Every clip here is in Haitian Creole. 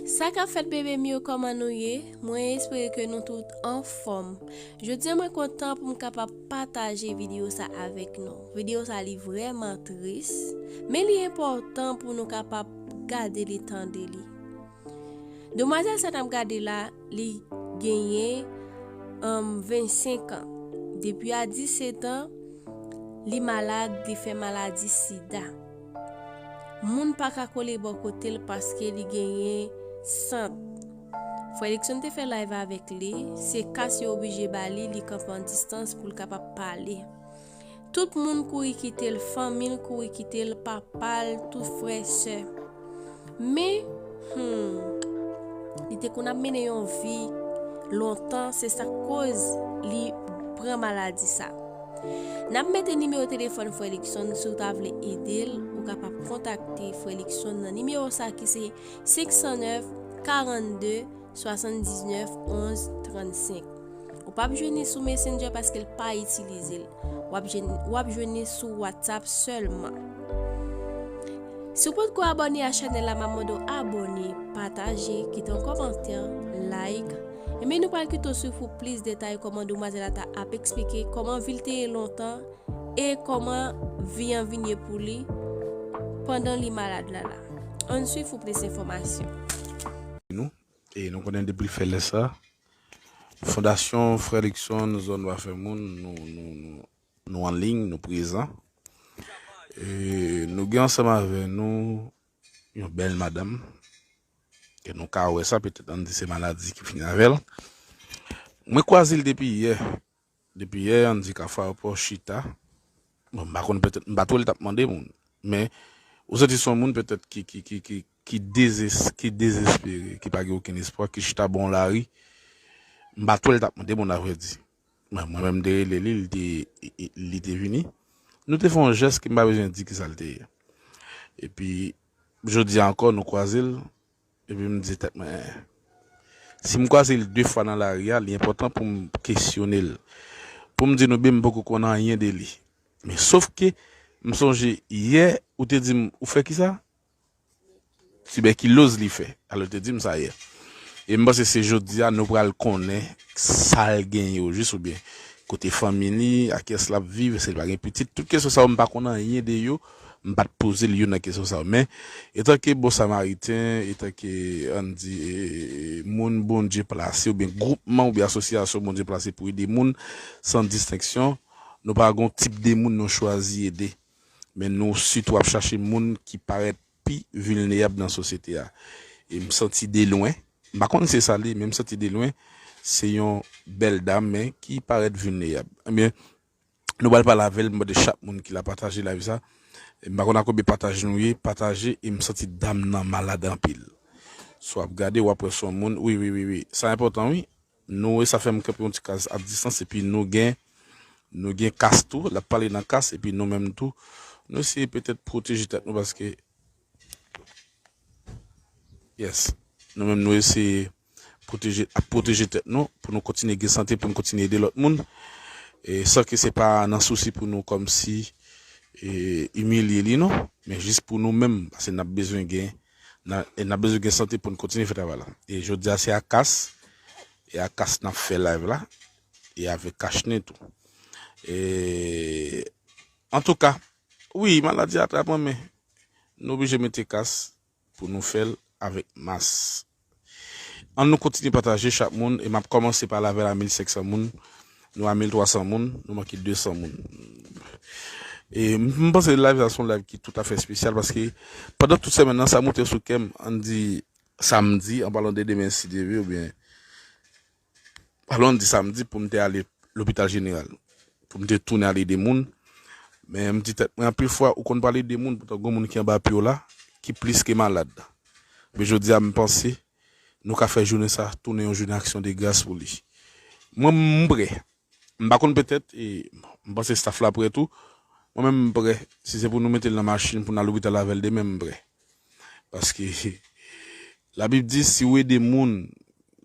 Sa kap fèt bebe m yo kòman nou ye mwen espere ke nou tout anfòm jodi mwen kontan pou m kapab pataje video sa avèk nou video sa li vrèman tris men li enpòtan pou nou kapab gade li tande li. Demwazèl sa nap gade la li genyen 25 an depi a 17 an li malad li fè maladi sida moun pa ka kole bò kote l paske li genyen sant frè Likson te fè live avèk li se kas yo oblije ba li li kanpe an distans pou l kapab pale. Tout moun kouri kite l, fanmi l kouri kite l, papa l, tout frè, sè. Men, humm, li te konn ap mennen yon vi lontan, se sa k koz li pran maladi sa. N ap mete nimewo telefòn frè Likson si w ta vle ede l, ou kapab kontakte frè Likson nan nimewo sa ki se 509 42. 79 11 35 Ou pap jwenn ni sou Messenger paske l pa itilize l. Wap jwenn wap jwenn ni sou WhatsApp sèlman. Si w potko abone a chanel la map mande w abone, pataje, kite yon kòmantè, like. Enben nou pral kite w swiv pou plis detay kòman demwazèl la ta ap eksplike kòman vil te ye lontan E kòman vi an vin ye pou li pandan li malad la la? Ann swiv pou plis enfòmasyon. Nou, e nou konnen depi l fè lè sa, Fondasyon Frè Luckson zòn Dwa Fè Moun, nou, nou, nou, nou an liy, nou prezan. E nou gen ansanm avè nou yon bèl madanm, e nou ka wè sa, petèt ann di se maladi ki vin avè l. Mwen kwaze l depi yè. Depi yè an di Cafaro paw chita bon m pa konn petèt m pat wè li tap mande moun men ou santi son moun petèt ki ki ki ki ki dezes ki dezespere ki pa gen okenn espwa ki chita bon lari m pat wè li tap mande moun avrèdi mwen mwen menm m te rele li li te li te vini nou te fè yon jès ke m pa bezwen di kisa l te ye epi jodi a ankò nou kwaze l Epi m di tèt mwen, si m kwaze l de fwa nan lari a, li enpòtan pou m kesyone l. Pou m di nou byen m poko konn anyen de li. Men sof ke, m sonje yè ou te di m ou fè kisa? Tibèkiloz li fè. Alò ou te di m sa yè. E m panse se jodi a nou pral konnen sa l genyen ojis oubyen kote fanmi li, ak ki yès l ap viv, èske li pa gen pitit. Tout kesyon sa yo m pa konn anyen de yo. M pa t poze l youn nan kesyon sa yo. Men, etanke bon samariten, etanke, an n di, moun Bondye plase oubyen gwoupman oubyen asosyasyon Bondye plase pou ede moun san distenksyon, nou pa gen yon tip de moun nou chwazi ede. Men nou sitou ap chache moun ki parèt pi vilnerab nan sosyete a. E m santi delwen, m pa konn si se sa l ye, men m santi delwen se yon bèl dam men ki parèt vilnerab. Enben, Nou pral pale avèl m mande chak moun ki la pataje live sa m pa konn a konbyen pataj nou ye pataje e m santi dam nan malad anpil sou ap gade wap wè son moun wi wi wi sa enpòtan wi nou wè sa fèm kanpe yon ti kaz ap distans epi nou gen nou gen kas tou lap pale nan kas epi nou menm tou nou se petèt pwoteje tèt nou paske yes nou menm nou eseye. ap pwoteje tèt nou pou nou kontinye gen sante pou nou kontinye ede lòt moun san ke se pa nan sousi pou nou kòmsi imilye li non men jis pou nou menm pase nap bezwen gen nap bezwen gen sante pou nou kontinye fè travay la e jodi a se ak kas e ak kas nap fè live la e avèk kachnen tou e antouka wi maladi a atrap mwen men nou oblije mete kas Pou nou fèl avèk mas. Ann nou kontinye pataje chak moun e map kòmanse pale avèl a 1500 moun nou a 1300 moun nou manke 200 moun e m panse live sa son live ki tout afè spesyal paske pandan tout semèn nan sa moute sou kèm ann di samdi an palan de demen si Dye vle oubyen Pa lwen di samdi pou m te ale lopital jeneral pou m te tounen al ede moun, men m di tèt mwen anpil fwa ou konn pral ede moun poutan gon moun ki anba pye w la ki plis ke malad. Men jodi a m panse nou ka fè jounen sa tounen yon jounen aksyon de gras pou li. Mwen m prè M pa konn petèt e m panse staff la prè tou. Mwen menm m prè. Si se pou nou mete l nan machin pou n al lopital avè l demen m prè. Paske labib di si w ede moun,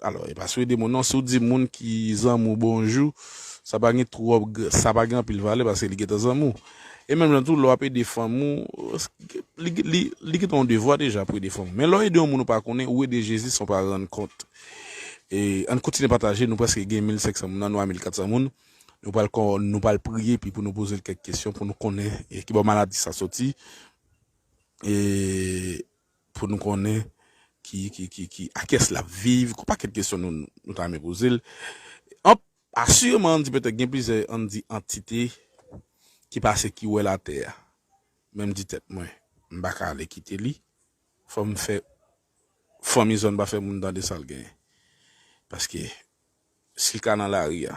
alò e pa si w ede moun non, si w di moun ki zanmi w bonjou sa pa gen twòp, sa pa gen anpil valè paske li gentan zanmi w. E menm jan tou lè w ap ede fanmi w, li gentan yon devwa deja pou ede fanmi w. Men lè w ede yon moun ou pa konnen, ou ede Jezi san w pa rann kont. Ann kontinye pataje, nou prèske gen 1500 moun nan, nou a 1400 moun. Nou pral kon, nou pral priye epi pou nou poze l kèk kesyon pou nou konnen ki bò maladi sa soti e pou nou konnen ki ki ki ki akès lap viv, gon pakèt kesyon nou nou ta renmen poze l. An asireman ann di petèt gen plizyè ann di antite ki pase ki wè latè a. Men m di tèt mwen m pa ka ale kite li, fò m fè Fanmi zòn pa fè moun tande sa l genyen. Paske, si l ka nan lari a,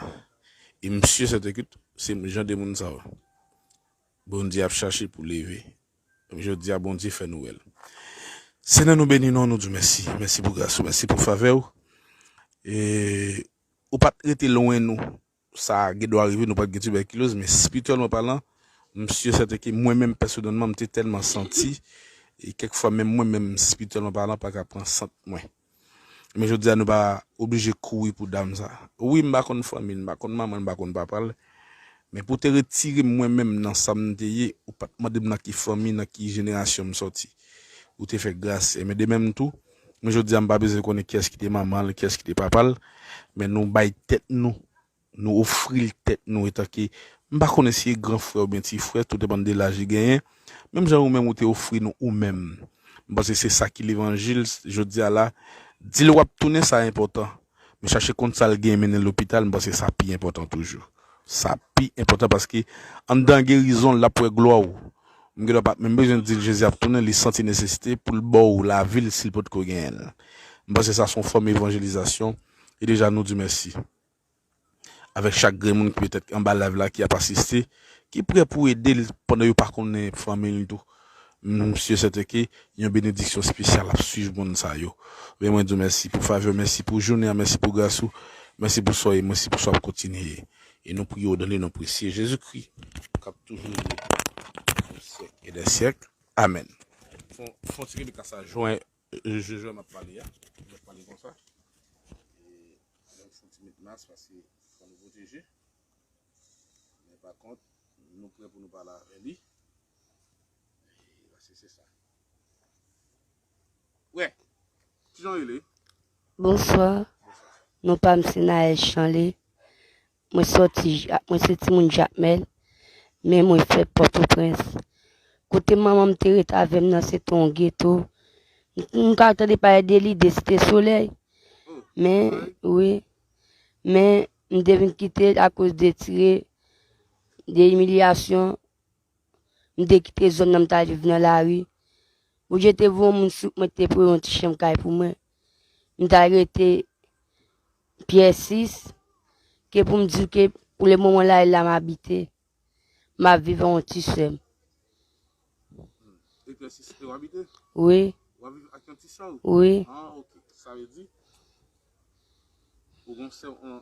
e m si e sètenkit, se jan de moun sa yo Bondye ap chache pou leve. Donk jodi a, Bondye fè nou wè l. Senyè, nou beni non w, nou di w mèsi. Mèsi pou gras ou, mèsi pou favè ou. E ou pa t rete lwen nou. Sa gen dwa rive nou pat gen tibèkiloz men spirityèlman palan m sur sèten ke mwen menm pèsonèlman m te tèlman santi e kèk fwa menm mwen menm spirityèlman palan pa ka pran sant mwen. Men jodi a nou pa oblije kouri pou dam sa. Wi m pa konn fanmi l, m pa konn manman l, m pa konn papa l men pou w te retire m mwen menm nan sa m te ye ou pat mande m nan ki fanmi, nan ki jenerasyon m sòti. Ou te fè gras e men de menm tou. Men jodi a m pa bezwen konnen kiyès ki te manman l, kiyès ki te papa l, men nou bay tèt nou, nou ofri l tèt nou etanke, m pa konnen si e gran frè oubyen ti frè, tou depann de laj li genyen, menm jan ou menm ou te ofri nou ou menm. M panse se sa ki levanjil jodi a la, di l w ap tounen sa enpòtan, Men chache konn sa l gen mennen l lopital, m panse sa pi enpòtan toujou. Sa pi enpòtan paske anndan gerizon l ap wè glwa w. M gen dwa pa t menm bezwen di l Jezi ap tounen, li santi nesesite pou l ba w lavi l si l potko genyen l. M panse sa s on fòm evanjelizasyon e deja nou Di mèsi. avèk chak grenn moun ki petèt anba live la ki ap asiste ki prè pou ede l pandan yo pa konnen fanmi l tou m si sèten ke yon benediksyon spesyal ap swiv moun sa yo men mwen di w mèsi pou favè w mèsi pou jounen an mèsi pou gras ou mèsi pou sa w ye mèsi pou sa w ap kontinye ye e nou priye w dan le non presye Jezikri k ap toujou règne pou syèk e dè syèk amèn fon ti rele kasa jwen Je jan nap pale a nap pale konsa e menm fouti met mas paske fò nou pwoteje men pa kont nou prè pou nou pale avè li e paske se sa wè kijan rele Bonswa, non pa m Sinael Chanley, Mwen soti ja, mwen se timoun Jakmèl, men mwen fèt Pòtoprens. Kote manman m te ret avè m nan se te yon geto. M ka tande pale de li, de Site Solèy. Men, wi, men m te vin kite l akoz de tire, de imilyasyon. M te kite zòn nan m ta viv nan lari. Bondye te voye yon moun sou mwen te pou yon ti chanm kay pou mwen. m ta rete pyè 6 ke pou m di ke pou le moman la e la m abite m ap vive an ti sèm e pyè 6 e w abite? wi w ap vive ak yon ti sè w? wi an ok sa vle di ou gen yon sè w an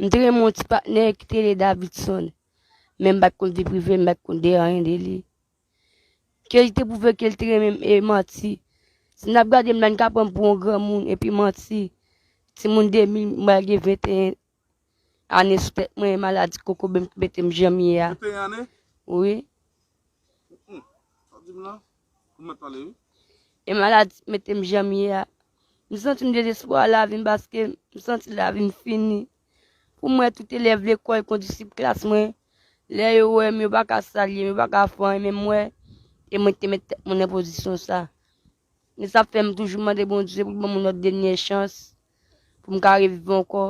M te renmen yon ti patnè ki te rele Davidson. Men m bat konn vi prive, m bat konn de anyen de li. Ke li te pwouve ke li te renmen m e manti. Si n ap gade m la, n ka pran m pou yon granmoun epi manti. Timoun 2000, m pral gen 21 ane sou tèt mwen e maladi kokobe m ki mete m jan m ye a. Wi. E maladi ki mete m jan m ye a. M santi m dezespwa a lavi m paske m santi lavi m fini. Pou mwen tout elèv lekòl kon disip klas mwen. Lè yo wè m yo pa ka salye m, yo pa ka fè anyen menm mwen. E mwen te met tèt mwen nan pozisyon sa. Men sa fè m toujou mande Bondye pou l ban mwen lòt dènyè chans pou m ka reviv ankò.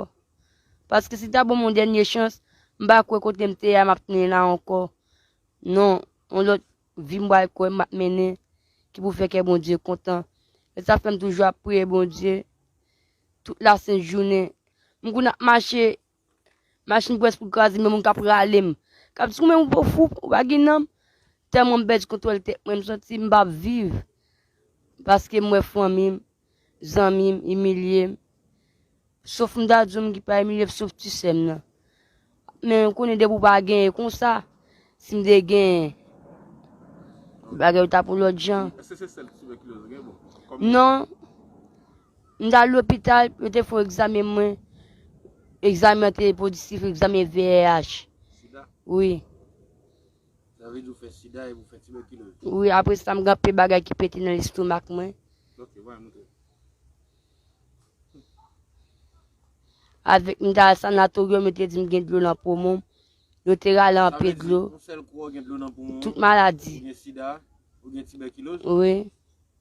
Paske si l ta ban mwen yon dènyè chans, m pa kwè kote m te ye a m ap tounen la ankò. Non, yon lòt vi m pral kwè m ap mennen ki pou fè kè Bondye kontan. Se sa k fè m toujou ap priye Bondye tout lasentjounen. M konn ap mache Machin pwès pou kraze m yon moun k ap rale m K ap di konbyen moun pou fou ou pa gen nanm Tèlman m pèdi kontwòl tèt mwen m santi m pa p viv Paske m wè fanmi m, zanmi m imilye m Sof m ta di w m ki pa imilye sof ti sè m nan Men m konnen depi w pa genyen konsa Si m te genyen bagay yo ta pou lòt jan Non M t al lopital, yo te fè yon egzamen mwen, egzamen an te pozitif, egzamen VIH. Sida? Wi. Sa vle di ou fè sida epi ou fè tibèkiloz? Wi, apre sa m gen anpil bagay ki pete nan lestomak mwen. Ok, bay mwen tou. Avèk m t al sanatoryòm, yo te di m gen dlo nan poumon m. Yo te rale anpe dlo. Yon sèl kou ou gen dlo nan poumon. Tout maladi. Ou gen sida, ou gen tibèkiloz. Wi.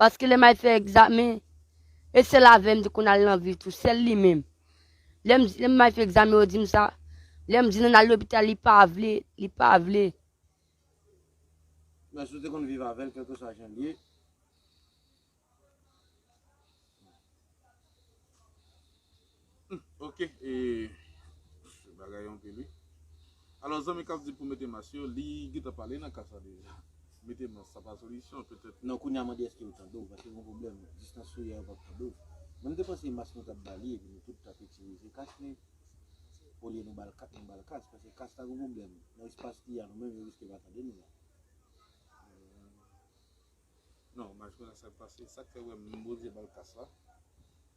Paske lè may fè egzamen, e sèl avè m te konn al nan vil tou, sèl li menm. Lè m di, lè may fè egzamen yo di m sa, lè m di nan al lopital li pa vle, li pa vle. Men si w te konn viv avè l kèlkeswa jan l ye. Humm ok ee bagay yo anpil wi Alò zanmi kap di pou mete mas yo li gentan pale nan ka sa deja Mete mas sa pa solisyon petèt Non kounya mande eske yo tande w paske gon pwoblèm distans sou yè yo pap tande w Mwen m te panse mas nou tap ba li epi nou tout tap itilize kas men olye nou bal kas nou bal kas paske kas la gon pwoblèm nan espas li a nou menm yo riske pa tande nou la Humm non mas yo nan sak pase sak fè wè m bondye bal kas la.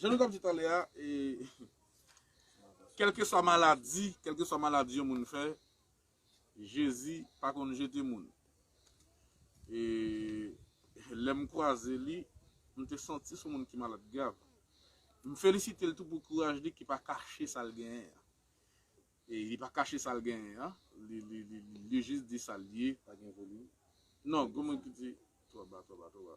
Jan nou t ap di talè a, kèlkeswa maladi, kèlkeswa maladi yon moun fè, Jezi pa konn jete moun. E lè m kwaze li, m te santi s on moun ki malad grav. M felisite l tou pou kouraj li ki pa kache sa l genyen an. E li pa kache sa l genyen an, li jis di sa l ye. Pa gen volim. Non, gen moun ki di, twò ba, twò ba, twò ba.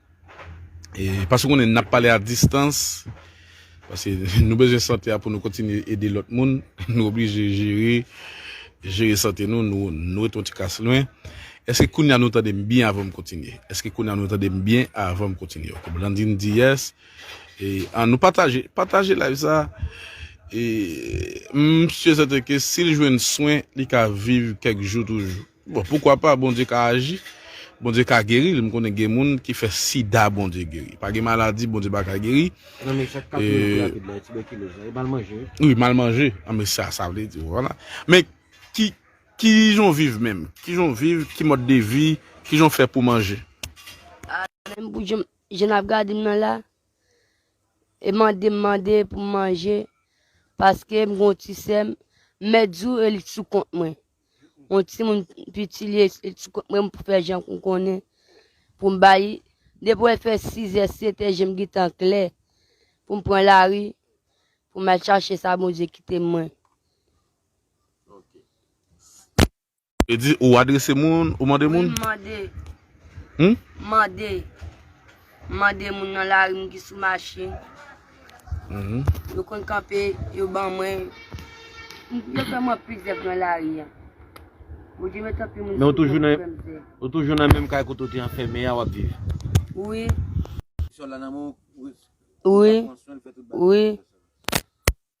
E paske w konnen n ap pale a distans, paske nou bezwen sante a pou nou kontinye ede lòt moun, nou oblije jere, jere sante nou, nou ret yon ti kas lwen. Eske kounye a nou tande m byen avan m kontinye? Eske kounye a nou tande m byen avan m kontinye? Ok, Blandine di yes. E an nou pataje, pataje live sa. E m sye sèten ke si l jwenn swen, li ka viv kèk jou toujou. Bon poukwa pa Bondye ka aji, Bondye ka geril, m konnen gen moun ki fè sida Bondye geri, pa gen maladi Bondye pa ka geri, wi mal manje, anben sa sa vle di vwala, men ki kijan w viv menm, kijan w viv, ki mòd de vi, kijan w fè pou manje. Menm pou jan jan nap gade m nan la, e mande m mande pou m manje, paske m gon ti sè m, mèt di w e li sou kont mwen, Mwen ti moun piti li li ti kot mwen pou fè jan kou konnen pou m bayi. Depi wè fè 6 è 7 è jem gitan klè pou m pran lari pou m al chache sa Bondye kite mwen. Vle di ou adrese moun, ou mande moun? Wi m mande. Humm? M mande. M mande moun nan lari m ki sou machin. Yo konn kanpe, yo ban mwen. Yo fè mwen anpil zèv nan lari a. Bondye met anpil moun sou mwen pou fè m zèv. Men ou toujou nan menm kay kote w te anfème a w ap viv? Wi. Ti sè w la nan men w? Wi. Ou ka pran swen l, fè tout bagay pou l? Wi.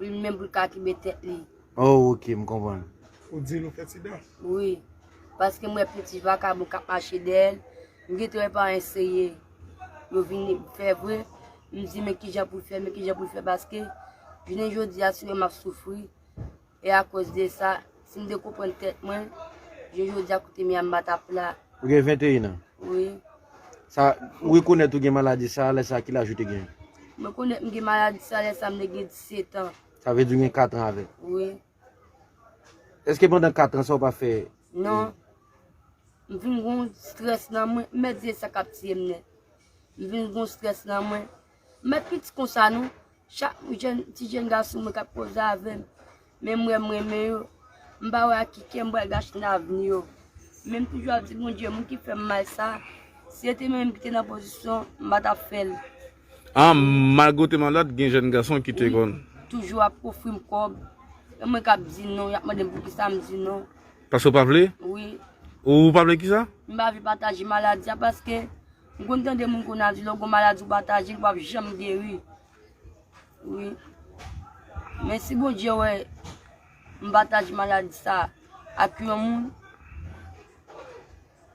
Li menm pou l ka kenbe tèt li. Oh ok m konprann. Ou di l ou fè ti dan? Wi. Paske m wè plion ti vakabon k ap mache dèyè l. M gentan wè pa eseye yo vin fè vre. M di men kijan pou l fè, men kijan pou l fè paske jounen jodi a si w wè m ap soufri e akoz de sa Si m te konprann tèt mwen, je jodi a kote m ye a m pa t ap la. Ou gen 21 an? Wi. Sa, ou rekonèt ou gen maladi sa a lè sa a ki laj ou te gen? M rekonèt m gen maladi sa a lè sa a m te gen 17 an. Sa vle di ou gen 4 an avèk? Wi. Eske pandan 4 an sa ou pa fè? Non. M vin gen yon strès nan mwen, m mèt di e sa k ap tiye m nèt. M vin gen yon strès nan mwen. M met piti konsa non. Chak ti jenn gason mwen k ap koze avè m, men m wè m renmen yo, m pa wè ak ki kè m pral gache nan avni yo. Men m toujou ap di Bondye moun ki fè m mal sa, si se te mwen menm ki te nan pozisyon an, m pa t ap fè l. An, malgre w te malad, gen jenn gason ki te konn. Wi, toujou ap ofri m kòb. E mwen k ap di non, y ap mande m poukisa m di non. Paske w pa vle? Wi. Ou pa vle kisa? M pa vle pataje maladi a paske. M konn tande moun konn a di lè w gon maladi w pataje l pap janm geri wi men si Bondye wè m pataje maladi sa ak yon moun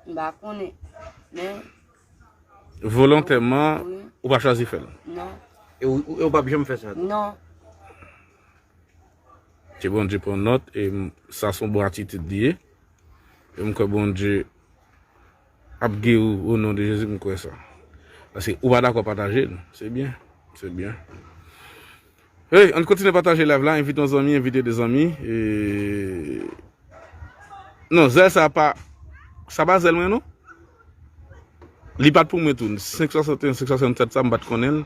m pa konnen men Volontèman ou pa chwazi fè l? Non. E ou pap janm fè sa tou? Non. Ke Bondye pran nòt e sa son bon atitid li ye e m kwè Bondye. ap geri w o non de jezi m kwè sa paske ou pa dakò pataje l se byen se byen hey ann kontinye pataje live la envite yon zanmi envite 2 zanmi non zèl sa pa sa pa zèl mwen non li pat pou mwen tou 561 567 sa m pat konnen l.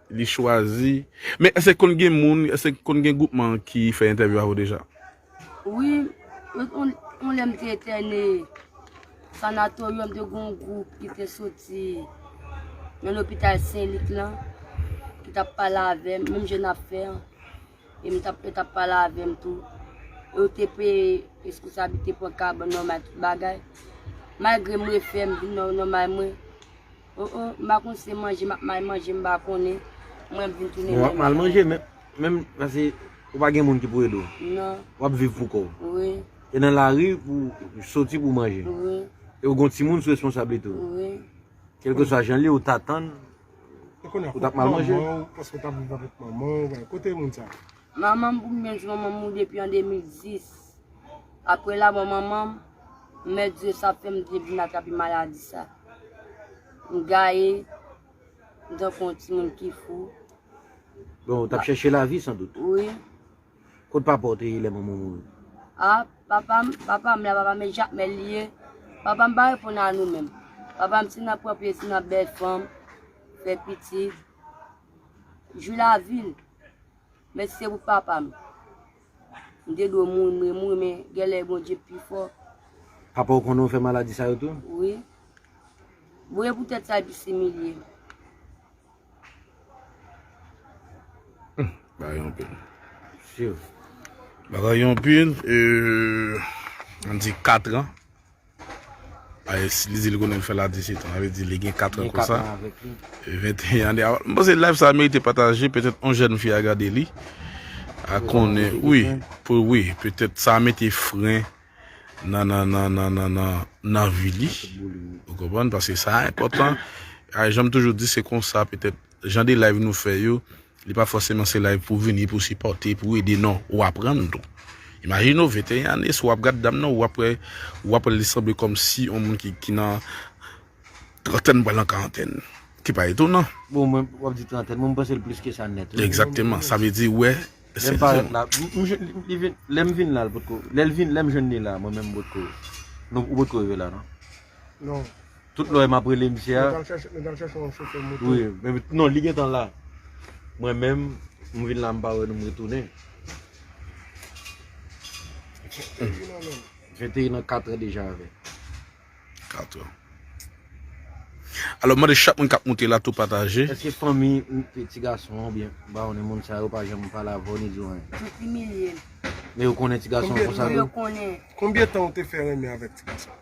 Li chwazi. Men eske konn gen moun, eske konn gen gwoupman ki fè entèvyou avè w deja? Wi, yon lè m te entène Sanatoryòm te gen yon gwoup ki te soti nan lopital Sen Lik lan ki tap pale avè m, menm jan n ap fè an. E m tap yo tap pale avè m tou. Yo te peye responsabilite pran kabann nòmal tout bagay. Malgre m refè m vin nan nòmal mwen. Oh oh m pa konn si se manje m ap may manje m pa konnen mwen vin tounen menm Wap mal manje menm menm pase ou pa gen moun ki pou ede w Non Wap viv pou kòw Wi E nan lari pou soti pou manje Wi E ou gon timoun sou responsablite ou Wi Kelkeswa jan l ye ou ta tann Ou tap mal manje Manman w paske w tap viv avèk manman w kote moun sa yo Manman m pou m gen jwenn manman m depi an 2010. Apre lamò manman m, mèt Dye sa fè m te vin atrape maladi sa. M gaye, m tankou yon timoun ki fou. Bon, ou t ap chèche lavi san dout? Wi. Kot papa w te ye lè manman w mouri? A, papa m, papa m la, papa m e Jakmèl li ye. Papa m pa reponn a nou menm. Papa m se nan pran plezi, nan bèl fanm, fè pitit. Jou la vil. Mèsi se pou papa m. M te dwe mouri m re mouri men gen lè Bondye pi fò. Papa w konnen w fè maladi sa yo tou? Wi. Voye pou tèt sa epi similye. Bagay yon pil. Siw. Bagay yon pil. An di 4 an. Li di li konnen fè la 17 an, sa vle di li gen 4 an konsa. 21 ane avan. Mwen panse live sa merite pataje, petèt yon jèn fi a gade li. A konnen, wi, pou wi, petèt sa mete fren nan nan nan nan nan nan nan vi li. Ou konprann? Paske sa enpòtan. Janm toujou di se konsa petèt. Jan de live nou fè yo, li pa fòseman se live pou vini pou sipòte, pou ede non, ou aprann tou. Imajine w 21 ane si w ap gad dam nan ou ap wè ou ap wè l li sanble kòmsi yon moun ki nan trantèn pral nan karantèn. Ki pa etonan. Bon mwen wap di trantèn mwen m panse l plis ke sa nèt wi. Egzakteman, sa vle di ou wè. Lè m parèt la, lè m vin la l potko, lè m jwenn li la mwen menm m potko, ou potko rive la non? Non. Tout lè map rele misye a. Nou tal chèche yon chofè moto. Wi, men non li gentan la. Mwen menm, m vin la m pa wè nou m retounen. Mwen te nan 4 an deja avè. 4 an. Alò m mande chak moun kap moute la tou pataje. Eske fanmi ti gason an oubyen ba one moun sa yo pa janm pale avè w ni di w anyen? Yo imilye l. Men yo konnen ti gason an konsa tou? Wi yo konnen. Konbyen tan ou te fè renmen avèk ti gason an?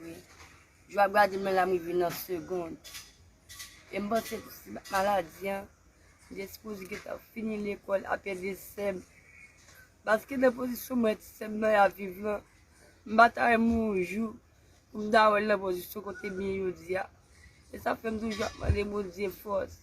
Wi. Jou ap gade men la m rive nan segond. E m panse pou si maladi an, m te sipoze gentan fini lekòl ap ede sè m. Paske nan pozisyon mwen ti sè m nan ap viv lan, m pa ta renmen yon jou pou m ta wè l nan pozisyon kote m ye jodi a. E sa fè m toujou ap mande Bondye fòs.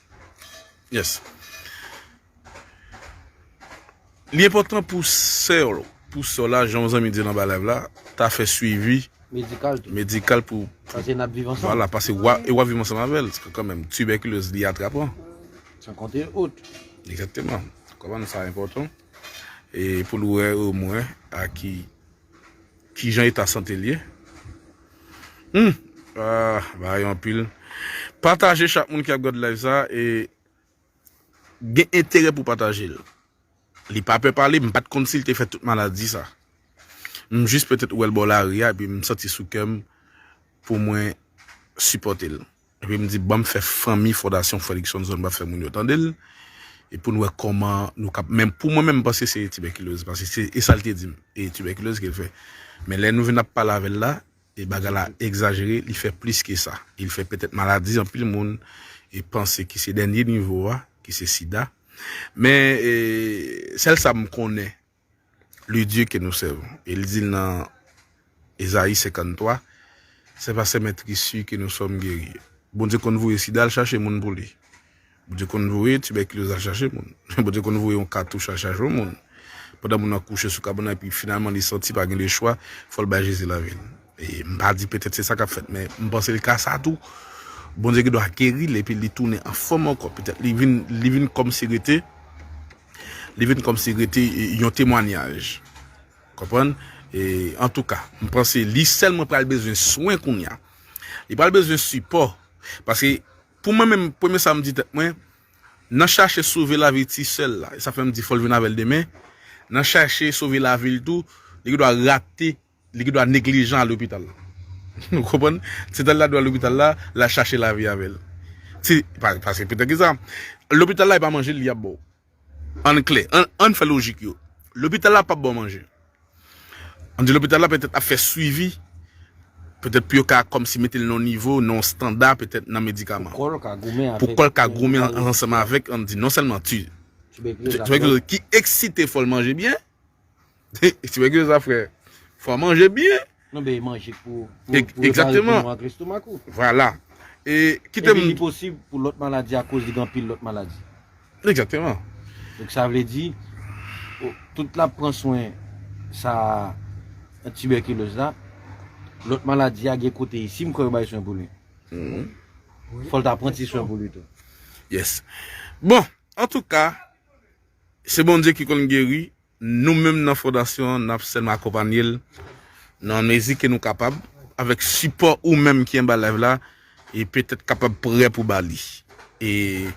Yes. Li enpòtan pou sè w, pou sè w la, jan yon zanmi di l anba live la, ta fè swivi Medikal tou. medikal pou Paske n ap viv ansanm. Vwala, pase w ap, e w ap viv ansanm avè l. Kanmenm, tibèkilez li atrapan. San konte ot. Egzakteman. Konprann sa enpòtan. E pou l wè omwen a ki. Kijan eta sante l ye? Humm aah bagay yo anpil Pataje chak moun ki ap gad live sa e gen enterè pou pataje l Li pa pè pale m pat konn si l te fè tout maladi sa M jis petèt wè l bò lari a epi m santi sou kè m pou mwen sipòte l. Epi m di banm fè fanmi fondasyon Fredrickson zòn banm fè moun yo tande l e pou n wè kòman nou kap men pou mwen menm m panse se tibèkiloz paske se e sa l te di m e tibèkiloz ke l fè men lè nou vin ap pale avè l la e bagay la egzajere li fè plis ke sa e li fè petèt maladi anpil moun e panse ki se dènye nivo a ki se sida men e sèl sa m konnen le Dieu que nous servons. Et li di nan Esaïe 53, c'est par ses metrissures que nous sommes guéris. Bondye konn voye sida al chache moun pou li. Bondye konn voye tuberculose al chache moun. Bondye konn voye yon katouch al chache yon moun. Pandan moun nan kouche sou kabana epi finalman li santi pa gen de chwa, fòl bay Jezi lavi l. E m pa di petèt se sa kap fèt men m panse l ka sa tou. Bondye gen dwa geri l epi li tounen an fòm ankò. Petèt li vin li vin kòmsi rete li vin kòmsi rete yon temwanyaj konprann e antouka m panse li sèlman pral bezwen swen kounya li pral bezwen sipò paske pou mwen menm premye sa m di tèt mwen nan chache sove lavi ti sèl la e sa fèm di fòl vin avèl demen nan chache sove lavil tou li gen dwa rate Li gendwa neglijan al lopital. Ou konprann? Se tan li ta dwe al lopital la, l al chache lavi avè l. Se pa, paske pou tèt ki sa, lopital la e pa manje li ap ba w. Ann klè, ann, ann fè lojik yo. Lopital la pap ba w manje. Ann di lopital la petèt ap fè swivi, petèt pou yo ka kòmsi mete l nan yon nivo, nan yon standa petèt nan medikaman. Pou kò l ka goumen avèk. Pou kò l ka goumen ansanm avèk, ann di non sèlman ti. Tibèkiloz la. Tibèkiloz ki eksite fò l manje byen. Ti nèg yo zafre fwa manje byen. Nou beye manje pou repoulman ak lestomak ou. Vwala. E kitem. Epi li posib pou lòt maladi a koz li gen anpil lòt maladi. Ekzakteman. Donk sa vle di tout lap pran swen sa tibèkiloz la, lòt maladi a gen kote isi m kwè yo bay swen pou li. Fòl ta pran ti swen pou li tou. Yes. Bon, antouka. Se Bondye ki konn geri, nou menm nan fondasyon an nap sèlman akonpanye l nan mezi ke nou kapab avèk sipò ou menm ki anba live la e petèt kapab prè pou ba li. E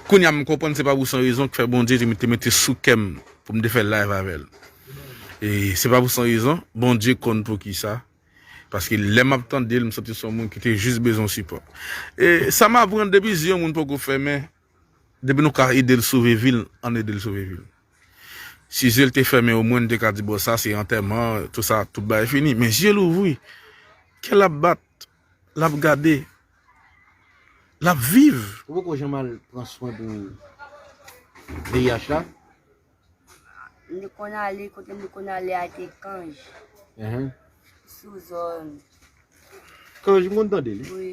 kounya m konprann se pa pou san rezon k fè Bondye te mete sou kè m pou m te fè live avè l. E se pa pou san rezon, Bondye konn poukisa, paske lè map tande l m santi se yon moun ki te jis bezwen sipò. E sa m aprann depi zye yon moun poko fèmen Depi nou ka edel sove vil ann edel sove vil. Si zyel te fèmen omwen nou te ka di bon sa se antèman tout sa tout bagay fini men zyel ouvri kèl ap bat lap gade lap viv. Ou poko janm al pran swen pou VIH la? M te konn ale, kote m te konn ale a te Cange. Sou zòn. Cange m konn tande li. Wi.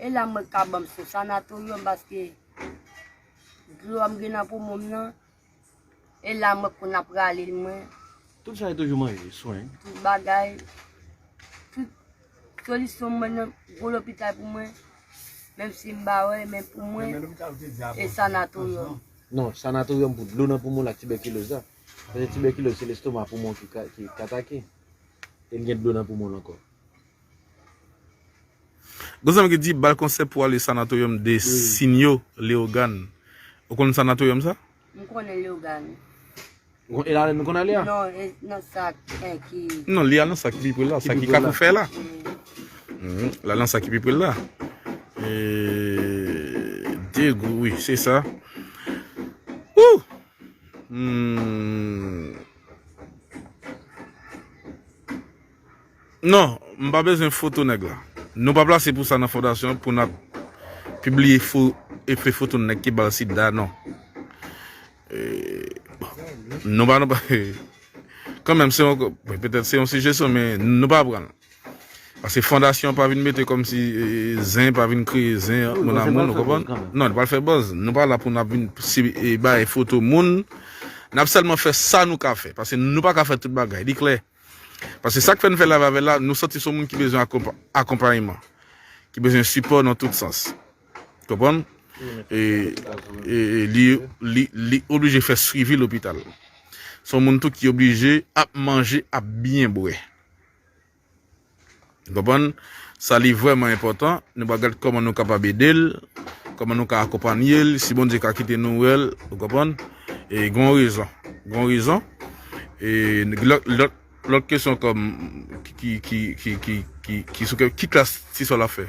E la mwen ka banm sou sanatorium paske dlo a m gen nan poumon m nan. E la mwen konn ap rale l mwen. Tout sa e toujou manje, swen. Tout bagay. Tout solisyon m mwen nan gwo lopital pou mwen. Menm si m pa wè, men pou mwen e sanatorium. Non, sanatorium pou dlo nan poumon l ak tibèkiloz la. Paske tibèkiloz se lestoma poumon ki atake. E l gen dlo nan poumon l ankò. Gon zanmi ki di bal konsè pou ale sanatoryòm de sinyo leogàn ou konn sanatoryòm sa? M konnen leogàn wi. Ou konn elalèn ou konn ale a? Non e nan sa ki. Non li al nan sa ki pi pre l la sa ki kafou fè la l al nan sa ki pi pre l la degou wi se sa ooh humm. Non, m pa bezwen foto nèg la. Nou pa plase pou sa nan fondasyon an pou n ap pibliye fo e fe foto nèg ki ba l sida non. Nou pa nan pa e. Kanmenm se yon ko, petèt se yon sijesyon men nou pa pran l. Pase fondasyon an pa vin mete kòm si zen pa vin kreye zen ant moun a moun ou konprann. Non, li pa l fè buzz. Nou pa la pou n ap vin si e bay foto moun. N ap sèlman fè sa nou ka fè. Pase nou pa ka fè tout bagay. Li klè. Paske sak fè n fè live avèl la nou santi son moun ki bezwen akonpayeman ki bezwen sipò nan tout sans konprann e li oblije fè swivi lopital son moun tou ki oblije ap manje ap byen bwè. Nou konprann? Sa li vrèman enpòtan, nou pral gad kòman nou kapab ede l, kòman nou ka akonpanye l, si Bondye ka kite nou wè l, ou konprann? E gen yon rezon. Gen yon rezon. E lòt, lòt kesyon kòm, ki, ki, ki, ki, ki, ki sou kè, ki klas ti sè w la fè?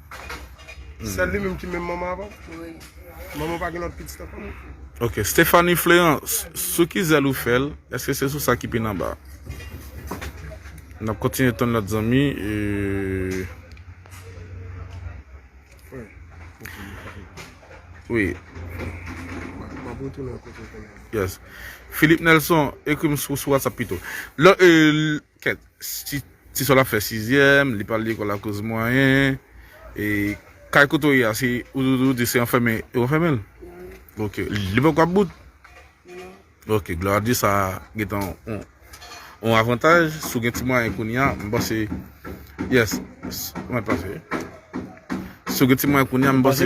Sèl li menm ki menm manman avè w? Wi. Manman w pa gen lòt pitit ankò non? Ok. Stéphanie Fleurant, sou ki zèl ou fè l? Èske se sou sa ki pi nan ba a? N ap kontinye tann lòt zanmi. Wi. M ap retounen kote w te ye. Yes. Philippe Nelson, ekri m sou WhatsApp pito. Kèt tisòl ap fè sizyèm li pral lekòl akoz mwayen e kay kote w ye a se ou di se anfèmen yo anfèmen l ok li poko ap bout non ok glwa a dye sa gentan yon avantaj si w gen ti mwayen kounya m panse yes mwen pase si w gen ti mwayen kounya m panse